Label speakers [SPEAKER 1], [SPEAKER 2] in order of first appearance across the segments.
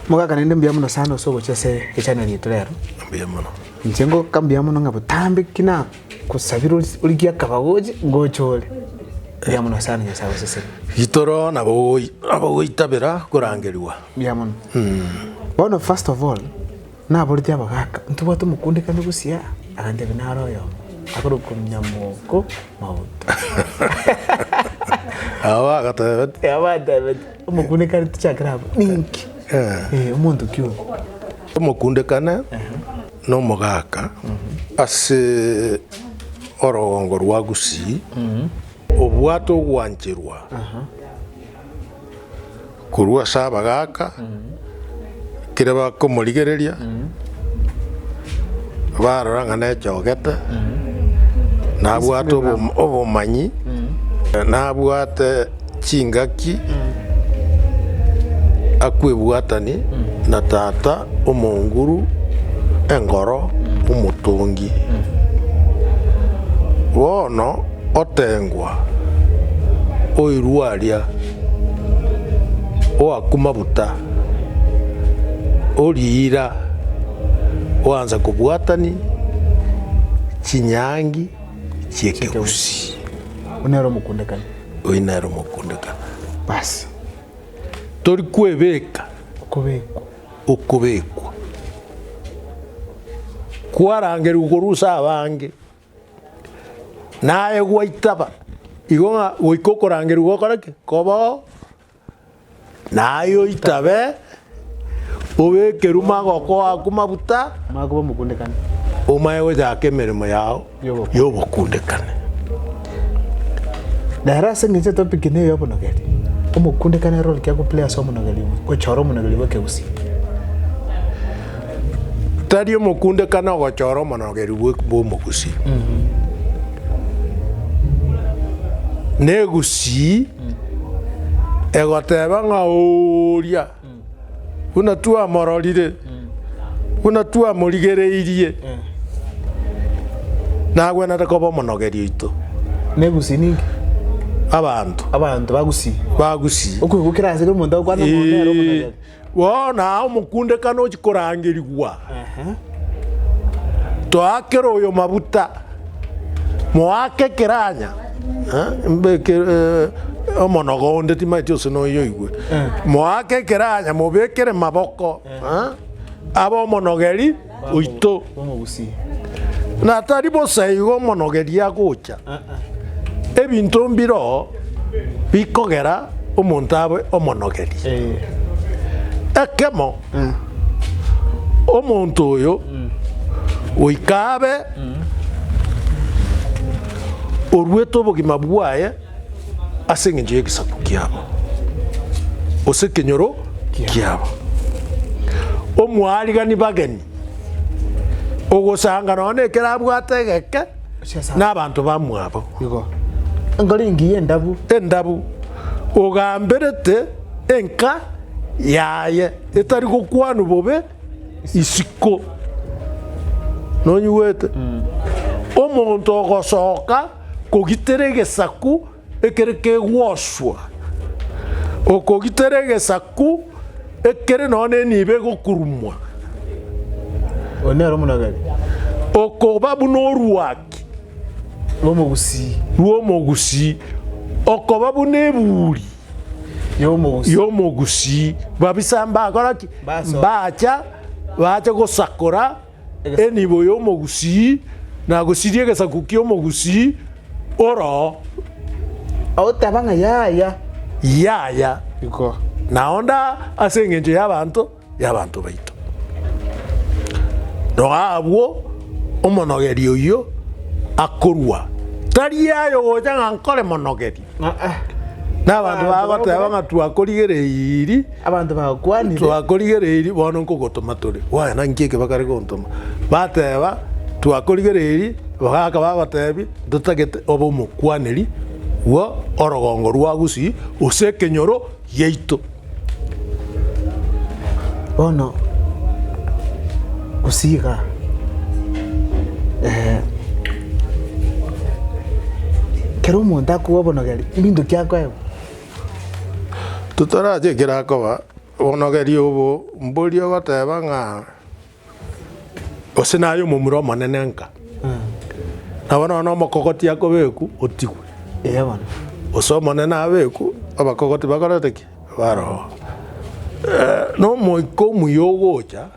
[SPEAKER 1] Mogaka naende mbuya mono sana ase ogochia ase echaneli yaito rero. Mbuya mono.
[SPEAKER 2] Inche ngoka mbuya
[SPEAKER 1] mono ng'a botambe ki nagosabire ori- origie akaba goche ngoche ore. Mbuya mono sana Nyasae agosesere. Gitoro nabo
[SPEAKER 2] ogoi- nabo ogoitabera korangerigwa. Mbuya mono.
[SPEAKER 1] Bono first of all, naboretie abagaka ntobwate omokundekano busiaa, agantebia nare oyomo, akorwa Komnyamoko Mauta.
[SPEAKER 2] Aba agatebeti. Abantebetie.
[SPEAKER 1] Omokundekane tichakera abwo ninki? Eh, omonto ki oyo? Omokundekane
[SPEAKER 2] nomogaaka ase orogongo rwa Gusii obwate ogwancherwa korwa ase abagaaka ekero bakomorigereria, barora ng'a nechogete, nabwate obom- obomanyi, nabwate chingaki akwebwatani na tata omonguru engoro omotongi. Bono otengwa oirwe aria, oaku mabuta. o riira oansa kobwatania chinyangi chi'ekegusii. Oyio nere
[SPEAKER 1] omokundekani. Oyio nere
[SPEAKER 2] omokundekani. Basi. Tori kwebeka. Okobekwa. Okobekwa. Kwarangerigwe korwa ase abange, naye gwaitaba, igo ng'a goika okorangerigwa gokore ki? Koba oo. Naye oitabe, obekerwe magoko ako mabuta, Makoba omokundekani.
[SPEAKER 1] omaye gochaka
[SPEAKER 2] emeremo yao Y'obokundekani. y'obokundekani.
[SPEAKER 1] Nere ase engencho etopiki neye obonogeri. Omokundekani ere orokia goplay ase omonogeri obo, gochora omonogeri bw'ekegusii.
[SPEAKER 2] Tari omokundekani ogochora omonogeri bwe- bw'omogusii. Negusii egoteba ng'a oria buna twamororire, buna twamorigereirie, nagwenerete koba omonogeri oito. Negusii ninki?
[SPEAKER 1] Abanto Abanto bagusii. bagusii. Okwegokera asere omonto agokwana ng'a onde nere omonogeri. Bono aa
[SPEAKER 2] omokunde kane ochi korangerigwa, toakere oyo mabuta, moake kiranya, eh, mbe ki- eh, omonogo onde timaeti ose noyo oigwe, moake kiranya, mobekere maboko eh, abe omonogeri. oito, na tari bosa igo omonogeria agocha, ebinto mbiro bikogera omonto abe omonogeria. Ekemo, omonto oyo goika abe oruete obogima bwaye. ase engencho y'egesaku kiabo, gose ekenyoro kiabo. Omwarigani bageni, ogosanga nonya nekero abwate egeke n'abanto bamwabo. Igo enkoro
[SPEAKER 1] engiya endabu. Endabu,
[SPEAKER 2] ogamberete enka yaye etari gokwanwa bobe. isiko. Nonyigwete? Omonto ogosoka kogitera egesaku ekere kegwoswa, okogitera egesaku ekere nonya na enibo egokurumwa,
[SPEAKER 1] Oyo nere omonagari okoba
[SPEAKER 2] buna oruaki rw'omogusii. rw'omogusii, okoba buna eburi Yomogusi. yomogusi babisa mbakora ki Basoka. mbacha bache gosakora Egesaku. enibo yomogusi na gosiria egesaku kiomogusi oro
[SPEAKER 1] Otaba ng'a yaya.
[SPEAKER 2] yaya Iko. naonda ase engencho y'abanto y'abanto baito. Roa abwo, omonogeri oyio akorua, tari aye ogocha ng'a nkore monogeri, n'abanto bagoteba ng'a twakorigereiri, Abanto
[SPEAKER 1] bagokwanire. twakorigereiri bono
[SPEAKER 2] nkogotoma tore. Waya naki eke bakare gontoma? Bateba, twakorigereiri, bagaka bagotebi, ntotagete obe omokwaneri bwo orogongo rwa Gusii, gose ekenyoro yaito.
[SPEAKER 1] Bono gose iga kero omonto akobobonogeria ebinto kiakoewa.
[SPEAKER 2] Totorache ekero
[SPEAKER 1] akoba
[SPEAKER 2] bonogeria obo, mbori ogoteba ng'a. Gose naye omomura omonene nka. Nabo nonya omokogoti akobekwa otigwe. Eya bono.
[SPEAKER 1] Gose omonene
[SPEAKER 2] abekwe abakogoti bakorete ki? Baroe. Eh, na omoika omuya ogocha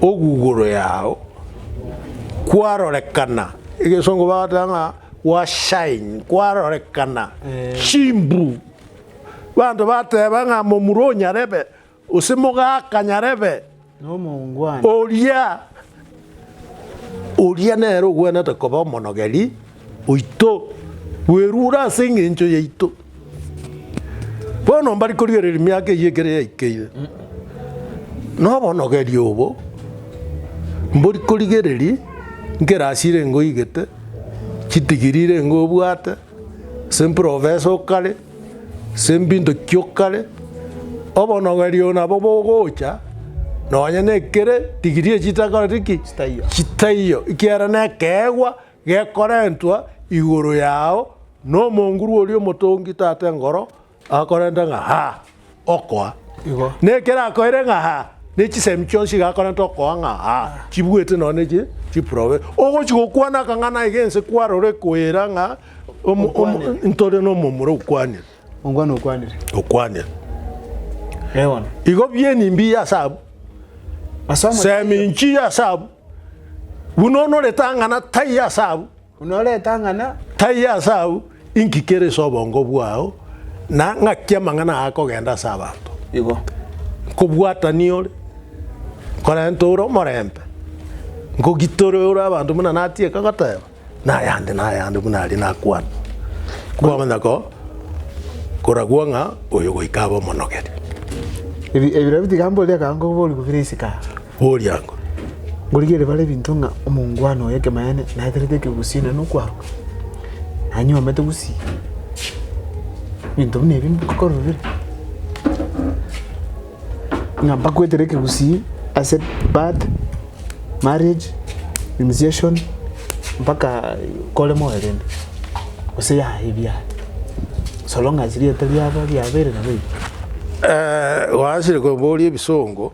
[SPEAKER 2] oguguru yao kwarorekana egesongo bagoteba ng'a wa shine kwarorekana chimbu banto bateba ng'a momura onyarebe. Gose mogakanyarebe
[SPEAKER 1] oria
[SPEAKER 2] oria nere ogwenerete koba omonogeri oito, bwerure ase engencho yaito. Bono mbari korigereria miaka eyio ekero yaikeire, na obonogeri obo mbori korigereria nkerasi irengo oigete, chidigiri irengo obwate. Ase mprofesa o kare, ase mbinto ki o kare, obonogerio nabo bogocha nonye na ekere degree echi chitakoreti ki? Chitaiyo. Chitaiyo, ekiagera na ekeegwa gekorentwa igoro yao na omonguru oria omotongi tata engoro. Akorenta ng'a ha okoa. Igo. Nekero akoire ng'a ha ne chisemi chionsi iga akorenta okoa ng'a ha chibuete nonya ne chi chiprobe. Ogochi gokwana akang'ana iga ense kwarore koira ng'a omo omo Okwanire. ntore nomomura okwanire Ongwana okwanire. okwanire.
[SPEAKER 1] Ewana. Igo bieni
[SPEAKER 2] mbiya ase abwo? Ase omochie. Semi nchiya ase abwo. Buna onorete ang'ana taiyo ase abwo. Buna ore etang'ana. Taiyo ase agwo, inki kere ase obongo bwao, na ng'aki amang'ana aa akogenda ase abanto? Igo nkobwata niore, nkorente ore omorembe, nkogitore ore abanto buna natieka goteba, na ayande na ayande buna aria nakwana, kwamanya ko koragwo ng'a oyo goika abe omonogeri. Ebi,
[SPEAKER 1] ebirobio tiga mboria kaango oborubu bire isiko aa. boriango.
[SPEAKER 2] Ngorigererie
[SPEAKER 1] bare ebinto ng'a omongwana oye ekemanyereire naeterete ekegusii naende nokwaruka, nanyuomete gusii, ebinto buna ebi nkororire ng'a mbagoetera ekegusii ase birth, marriage, initiation mpaka kore moyo rende, gose yaya ebi yaya so long as rieta riabo riabeire nabo ebi.
[SPEAKER 2] Gwaanchire koboria ebisongo.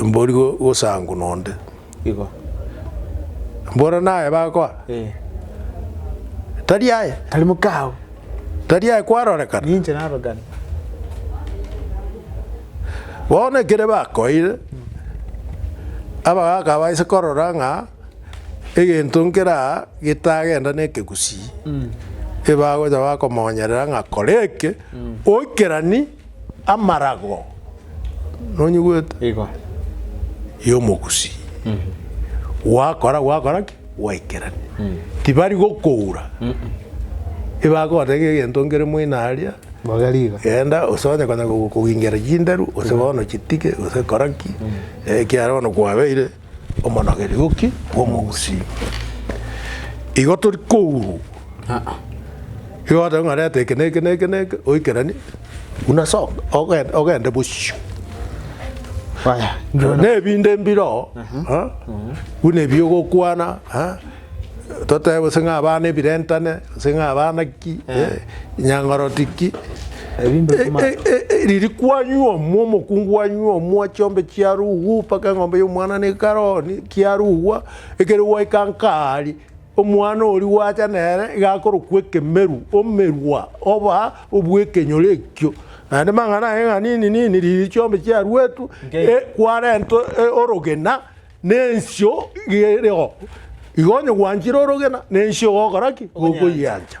[SPEAKER 2] mbori go- gosangu nonde Igo. mboro naye bakoa Eh. tari aye Tari mokao.
[SPEAKER 1] tari aye
[SPEAKER 2] kwarorekana Ninche narogana. bono ekere bakoire abagaka abaise korora ng'a egento nkere aa getagenda na ekegusii ebagocha bakomonyerera ng'a kora eke oikerani Amarago, nonyigwete? Igo. Y'Omogusii. Gwakora, gwakora ki? Gwaikerania. Tibari gokoura. Ebagoteba ng'a egento nkere moino aria, Bobe riga. genda gose onye konya kogokogingera chinderu, gose bono chitige, gose kora ki, ekiagera bono kwabeire. omonogerioki bw'omogusii. Igo tori kourwa aa, igo ogoteba ng'a reta eke na eke na eke na eke, oikeranie, buna soka, ogen- ogende bosio. Aya, Nebinde mbiroo, aa, buna ebi ogokwana, aa. Totebe gose ng'a abana ebirentane, gose ng'a abana ki, eh, nyang'oroti ki. Ebinto Eh, bimana. eh, eh, eh, riri kwanywa omwa omokungu wanywa omwa chiombe chiarugwa mpaka eng'ombe y'omwana nekaroni kiarugwa ekero gwaika nkari omwana oria gwacha nere iga akorokwa ekemeru omerwa oba obw'ekenyoro ekio naende mang'ana aye ng'a nini nini riri chiombe chiaruetwe Nkei. eh, kwarentwe eh, orogena Nensio gereo igo onye gwanchire orogena, nensio gokora ki? Gokoyiancha.